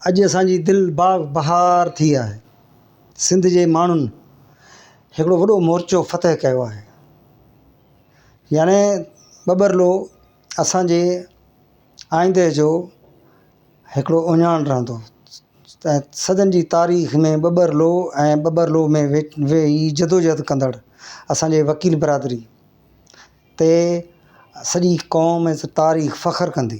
اڄ اسان جي دل باغ بهار ٿي آهي سنڌ جي ماڻهن هڪڙو وڏو مورچو فتح ڪيو آهي يعني ٻٻرلو اسان جي آئيندي جو هڪڙو اهڃاڻ رهندو ۽ صدين جي تاريخ ۾ ٻٻرلو ۽ ٻٻرلو ۾ ويهي جدوجهد ڪندڙ اسان جي وڪيل برادري تي سڄي قوم ۽ تاريخ فخر ڪندي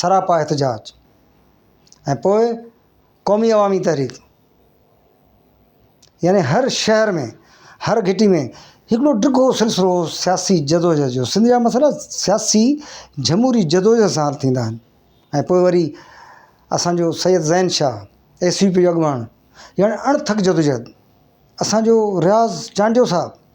سراپا احتجاج ۽ پوء قومي عوامي تحريڪ يعني هر شهر ۾ هر گهٽي ۾ هڪڙو ڊگهو سلسلو سياسي جدوجهد جو سنڌ جا مسئلا سياسي جمهوري جدوجهد سان حل ٿيندا آهن ۽ پوء وري اسانجو Syed Zain Shah S U P جو اڳواڻ ڄڻ اڻ ٿڪ جدوجهد اسانجو رياض چانڊيو صاحب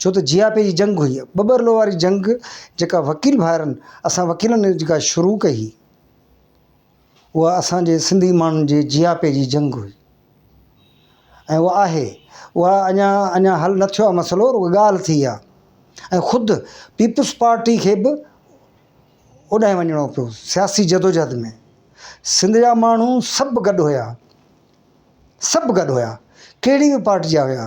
ڇو ته جياپي جي جنگ هئي، ٻٻرلو واري جنگ جيڪا وڪيل ڀائرن اسان وڪيلن جيڪا شروع ڪئي هئي اها اسان جي سنڌي ماڻهن جي جياپي جي جنگ هئي ۽ اها آهي اها اڃا اڃا حل نه ٿيو آهي مسئلو رڳو ڳالهه ٿي آهي ۽ خود پيپلز پارٽي کي به اوڏانهن وڃڻو پيو سياسي جدوجهد ۾ سنڌ جا ماڻهو سڀ گڏ هيا سڀ گڏ هيا ڪهڙي به پارٽي جا هيا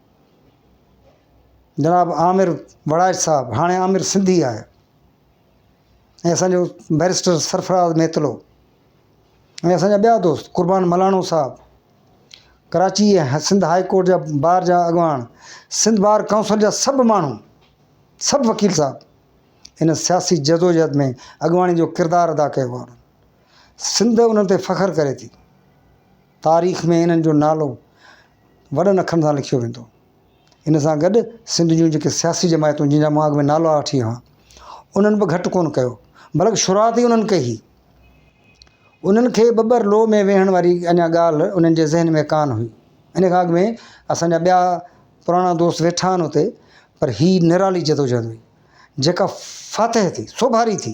جناب عامر وڙائچ صاحب هاڻي عامر سنڌي آهي ۽ اسان جو بئريسٽر سرفراز ميتلو ۽ اسان جا ٻيا دوست قربان ملاڻو صاحب ڪراچي ۽ سنڌ هاء ڪورٽ جا بار جا اڳواڻ سنڌ بار ڪائونسل جا سڀ ماڻهو سڀ وڪيل صاحب ان سياسي جدوجهد ۾ اڳواڻي جو ڪردار ادا ڪيو آهي سنڌ انهن تي فخر ڪري ٿي تاريخ ۾ انهن جو نالو وڏن اکرن سان لکيو ويندو. ان سان گڏ سنڌ جون جيڪي سياسي جماعتون جن جا مان اڳ ۾ نالا وٺي هئا انهن به گهٽ ڪونه ڪيو بلڪ شروعات ئي انهن ڪئي هئي. انهن کي ٻٻر لوء ۾ ويهڻ واري اڃا ڳالهه انهن جي ذهن ۾ ڪانه هئي. ان کان اڳ ۾ اسان جا ٻيا پراڻا دوست ويٺا آهن اتي پر هي نرالي جدوجهد هئي جيڪا فاتح ٿي، سوڀاري ٿي.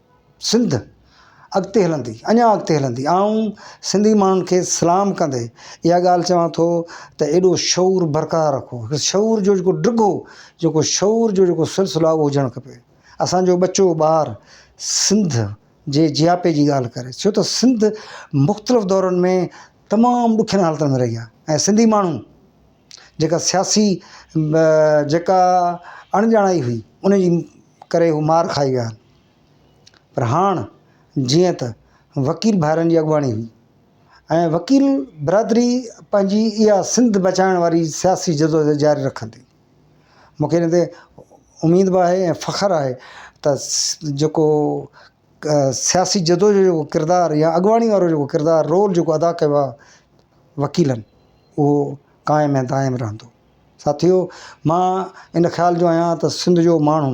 سنڌ اڳتي هلندي اڃان اڳتي هلندي آئون سنڌي ماڻهن کي سلام ڪندي اها ڳالهه چوان ٿو ته ايڏو شعور برقرار رکو شعور جو جيڪو ڊگهو جيڪو شعور جو جيڪو سلسلو آهي اهو هجڻ کپي اسانجو ٻچو ٻار سنڌ جي جياپي جي ڳالهه ڪري ڇو ته سنڌ مختلف دورن ۾ تمام ڏکين حالتن ۾ رهي آهي ۽ سنڌي ماڻهو جيڪا سياسي جيڪا اڻڄاڻائي هئي ان جي ڪري هو مار کائي ويا پر هاڻ جيئن ته وڪيل ڀائرن جي اڳواڻي هئي ۽ وڪيل برادري پنهنجي اها سنڌ بچائڻ واري سياسي جدوجهد جاري رکندي. مون کي ان تي اميد به آهي ۽ فخر آهي ته جيڪو سياسي جدوجهد جو ڪردار يا اڳواڻي وارو جيڪو ڪردار رول جيڪو ادا ڪيو آهي وڪيلن اهو قائم ۽ دائم رهندو. ساٿيو مان ان خيال جو آهيان ته سنڌ جو ماڻهو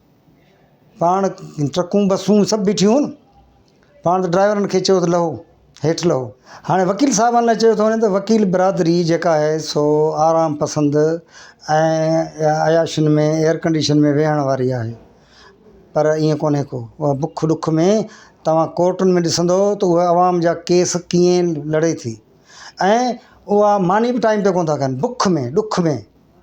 پاڻ ٽرڪون بسون سڀ بيٺيون هيون پاڻ ته ڊرائيورن کي چيو ته لهو هيٺ لهو هاڻي وڪيل صاحبان لاء چيو ٿو وڃي ته وڪيل برادري جيڪا آهي سو آرام پسند ۽ عياشين ۾ ايئرڪنڊيشن ۾ ويهڻ واري آهي پر ايئن ڪونهي ڪو اها بک ڏک ۾ توهان ڪورٽن ۾ ڏسندو ته اها عوام جا ڪيس ڪيئن لڙي ٿي ۽ اها ماني به ٽائيم تي ڪونه ٿا ڪن بک ۾ ڏک ۾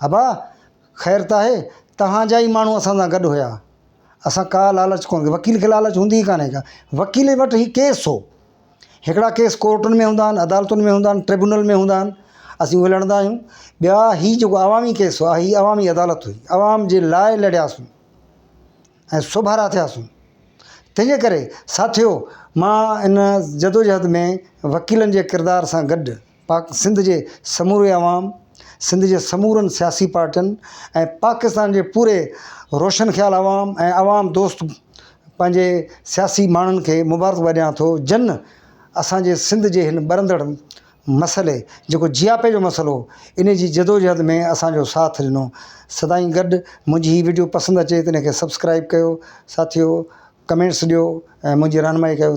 ابا! خير ته آهي، توهان جا ئي ماڻهو اسان سان گڏ هيا. اسان ڪا لالچ ڪونه ڪئي. وڪيل کي لالچ هوندي ئي ڪانهي ڪا. وڪيل وٽ هي ڪيس هو. هڪڙا ڪيس ڪورٽن ۾ هوندا آهن، عدالتن ۾ هوندا آهن، ٽربيونل ۾ هوندا آهن، اسين اهي لڙندا آهيون. ٻيا هي جيڪو عوامي ڪيس هئا، هي عوامي عدالت هئي. عوام جي لاء لڙياسون ۽ سوڀارا ٿياسون. تنهنجي ڪري ساٿيو مان ان جدوجهد ۾ وڪيلن جي ڪردار سان گڏ، پاڪ سنڌ جي سموري عوام، سنڌ جي سمورن سياسي پارٽين ۽ پاڪستان جي پوري روشن خيال عوام ۽ عوام دوست پنهنجي سياسي ماڻهن کي مبارڪباد ڏيان ٿو جن اسان جي سنڌ جي هن ٻرندڙ مسئلي جيڪو جياپي جو مسئلو انهي جي جدوجهد ۾ اسان جو ساٿ ڏنو سدائين گڏ منهنجي هي وڊيو پسند اچي ته ان کي سبسڪرائيب ڪيو ساٿيو ڪمينٽس ڏيو ۽ منهنجي رهنمائي ڪيو.